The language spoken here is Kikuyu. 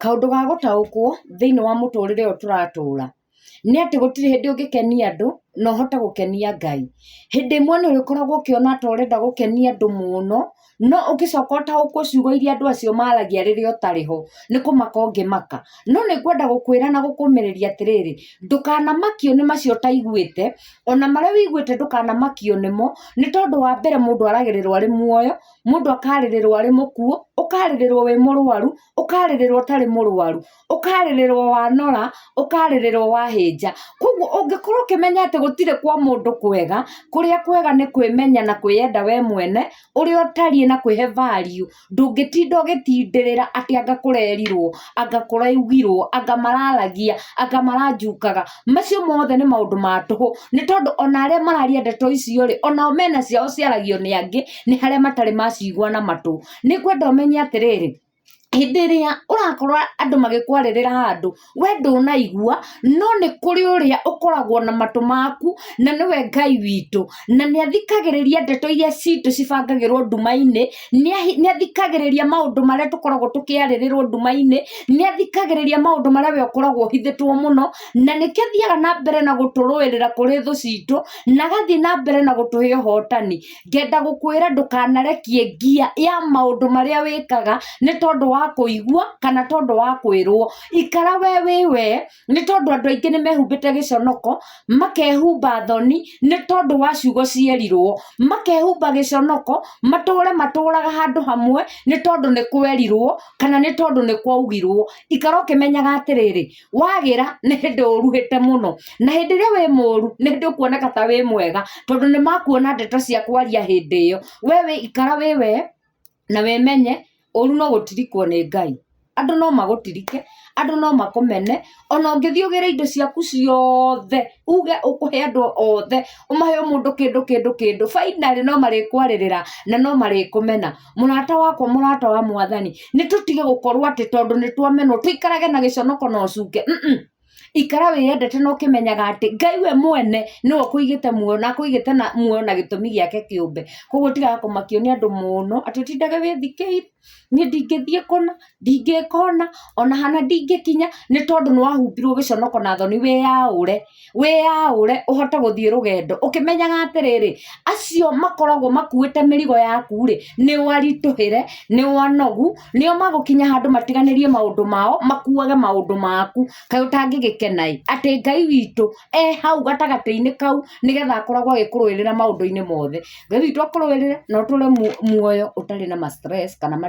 Kaũndũ ga gũtaũkwo thĩinĩ wa mũtũrĩre ũyũ tũratũra, nĩ atĩ gũtirĩ hĩndĩ ũngĩkenia andũ na ũhote gũkenia Ngai. Hĩndĩ ĩmwe nĩ ũrĩkoragwo ũkĩona ta ũrenda gũkenia andũ mũno, no ũgĩcoka ũtaũkwo ciugo iria andũ acio maragia rĩrĩa ũtarĩ ho, nĩ kũmaka ũngĩmaka. No nĩ ngwenda gũkwĩra na gũkũmĩrĩria atĩrĩrĩ, ndũkanamakio nĩ macio ũtaiguĩte, ona marĩa ũiguĩte ndũkanamakio nĩmo, nĩ tondũ wa mbere mũndũ aragĩrĩrwo arĩ muoyo, mũndũ akarĩrĩrwo arĩ mũkuũ, ũkarĩrĩrwo wĩ mũrũaru. ũkarĩrĩrwo ũtarĩ mũrwaru ũkarĩrĩrwo wanora ũkarĩrĩrwo wahĩnja koguo ũngĩkorwo ũkĩmenya atĩ gũtirĩ kwa mũndũ kwega kũrĩa kwega nĩ kwĩmenya na kwĩyenda we mwene ũrĩa ũtariĩ na kwĩhe value ndũngĩtinda ũgĩtindĩrĩra atĩ anga kũrerirwo anga kũraugirwo anga mararagia anga maranjukaga macio mothe nĩ maũndũ ma tũhũ nĩ tondũ ona arĩa mararia ndeto icio rĩ onao mena ciao ciaragio nĩ angĩ nĩ harĩa matarĩ macigwa na matũ. Nĩ ngwenda ũmenye atĩrĩrĩ, hĩndĩ ĩrĩa ũrakorwo andũ magĩkwarĩrĩra handũ, we ndũnaigua, no nĩ kũrĩ ũrĩa ũkoragwo na matũ maku, na nĩwe Ngai witũ. Na nĩ athikagĩrĩria ndeto irĩa citũ cibangagĩrwo nduma-inĩ, nĩ nĩ athikagĩrĩria maũndũ marĩa tũkoragwo tũkĩarĩrĩrwo nduma-inĩ, nĩ athikagĩrĩria maũndũ marĩa we ũkoragwo ũhithĩtwo mũno, na nĩkĩo athiaga na mbere na gũtũrũĩrĩra kũrĩ thũ citũ, na agathiĩ na mbere na gũtũhe ũhootani. ngenda gũkwĩra ndũkanarekie ngia ya maũndũ marĩa wĩkaga nĩ tondũ wa kũigua kana tondũ wa kwĩrwo ikara we wĩ we nĩ tondũ andũ aingĩ nĩ mehumbĩte gĩconoko makehumba thoni nĩ tondũ wa ciugo cierirwo makehumba gĩconoko matũre matũraga handũ hamwe nĩ tondũ nĩ kwerirwo kana nĩ tondũ nĩ kwaugirwo ikara ũkĩmenyaga atĩrĩrĩ wagĩra nĩ hĩndĩ ũruhĩte mũno na hĩndĩ ĩrĩa wĩ mũru nĩ hĩndĩ ũkuoneka ta wĩ mwega tondũ nĩ makuona ndeto cia kwaria hĩndĩ ĩyo we wĩ ikara wĩ we na wĩmenye ũru no gũtirikwo nĩ ngai andũ no magũtirike andũ no makũmene ona ũngĩthiĩ ũgĩre indo ciaku ciothe uge ũkũhe andũ othe ũmahe o mũndũ kĩndũ kĩndũ kĩndũ finally no marĩkwarĩrĩra na no marĩkũmena mũrata wakwa mũrata wa mwathani nĩ tũtige gũkorwo atĩ tondũ nĩ twamenwo tũikarage na gĩconoko na ũcuke Mm-mm. ikara wĩyendete na ũkĩmenyaga atĩ ngai we mwene nĩwe ũkũigĩte muoyo na akũigĩte na muoyo na gĩtũmi gĩake kĩũmbe koguo tigaga kũmakio nĩ andũ mũno atĩ ũtindage wĩthikĩi niĩ ndingĩthiĩ kũna ndingĩka ũna ona hana ndingĩkinya nĩ tondũ nĩ wahumbirwo gĩconoko na thoni wĩyaũre wĩyaũre ũhote gũthiĩ rũgendo ũkĩmenyaga atĩrĩrĩ acio makoragwo makuĩte mĩrigo yaku rĩ nĩ waritũhĩre nĩ wanogu nĩo magũkinya handũ matiganĩrie maũndũ mao makuage maũndũ maku kaĩ ũtangĩgĩkena ĩ atĩ Ngai witũ e hau gatagatĩ-inĩ kau nĩgetha akoragwo agĩkũrũĩrĩra maũndũ-inĩ mothe Ngai witũ akũrũĩrĩre na ũtũre muoyo ũtarĩ na ma stress kana ma